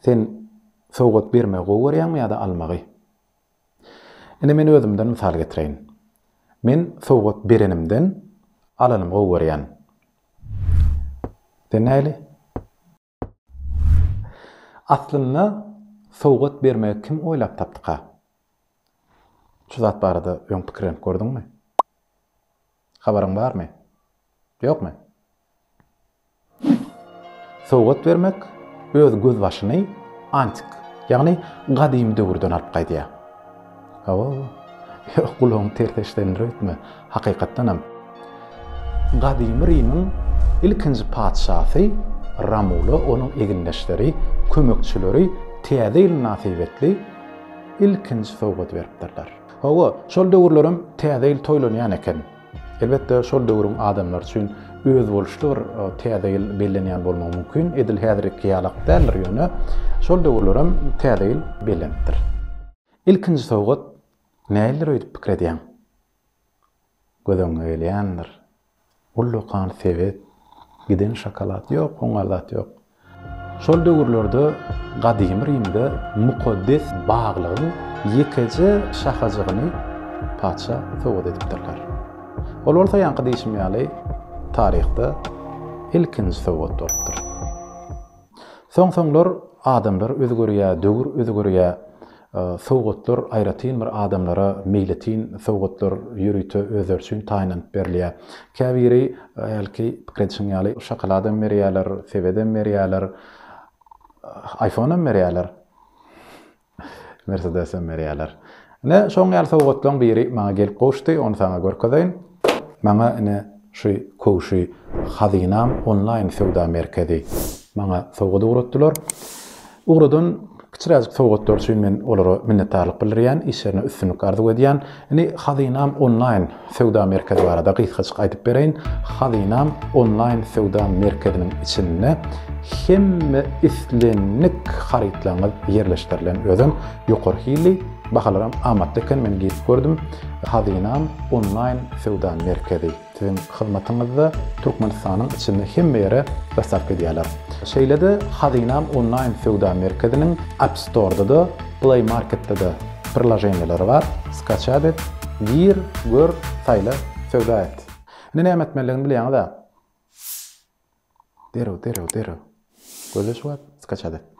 Sen sowgat bermegi gowy görýäňmi ýa-da almagy? Ine men özümden mysal getireýin. Men sowgat berenimden alanymy gowy görýän. Sen näli? Aslynda sowgat bermegi kim oýlap tapdyka? Şu zat barada öň pikirlenip gördüňmi? Habaryň barmy? Ýokmy? Sowgat bermek öz gözbaşyny antik, ýagny gadymy döwürden alyp gaýdýar. Hawa, ýok, gulagyňy ters eşidendir öýtme. Hakykatdanam, gadymy Rimiň ilkinji patyşasy Romula onuň egindeşleri, kömekçileri Täze ýyl mynasybetli ilkinji sowgat beripdirler. Hawa, şol döwürlerem Täze ýyl toýlanýan eken. Elbetde, şol döwrüň adamlary üçin özboluşly bir Täze ýyl bellenýän bolmagy mümkin, edil häzirki ýalak däldir, ýöne şol döwürler hem Täze ýyl bellenipdir. Ilkinji sowgat nälidir öýdüp pikir edýäň. Göz öňüňe gelýändir. Ullakan sebet, giden şokolad, ýok, oňa zat ýok. Şol döwürlerde gadymy Rimde mukaddes baglygyň ýekeje şahajygyny patyşa sowgat edipdirler. Ol bolsa ýaňky diýşim ýaly taryhda ilkinji sowgat bolupdyr. Soň-soňlar adamlar özgerýär, döwür özgerýär. Sowgatlar aýratyn bir adamlara meýletin sowgatlar ýörite özleri üçin taýynlanyp berilýär. Käbiri hälki pikir edişiň ýaly şokoladam berýärler, sebedem berýärler, iPhoneam berýärler, Mersedesem berýärler. Ine, şoň ýaly sowgatlaryň biri maňa gelip gowuşdy, ony saňa görkezeýin. Maňa ine şu Köwşi Hazynam onlaýn söwda merkezi maňa sowgat ugratdylar. Ugradan kiçiräjik sowgatlar üçin men olara minnetdarlyk bildirýän, işlerine üstünlik arzuw edýän. Indi Hazynam onlaýn söwda merkezi barada gysgajyk aýdyp bereýin. Hazynam onlaýn söwda merkeziniň içinde hemme islendik harytlaryňyz ýerleşdirilen özem. Ýokary hilli, bahalaram amatly eken men girip gördüm. Hazynam onlaýn söwda merkezi. Siziň hyzmatyňyzda Türkmenistanyň içinde hemme ýere dostawka edýärler. Şeýle-de Hazynam onlaýn söwda merkeziniň App Store-da-da, Play Market-de-de priloženiýalary bar. Skaçap et, gir, gör, saýla, söwda et. Indi näme etmelidigini bilýäňiz-ä? Derrew, derrew, derrew. Gözle şu wagt, skaçat et.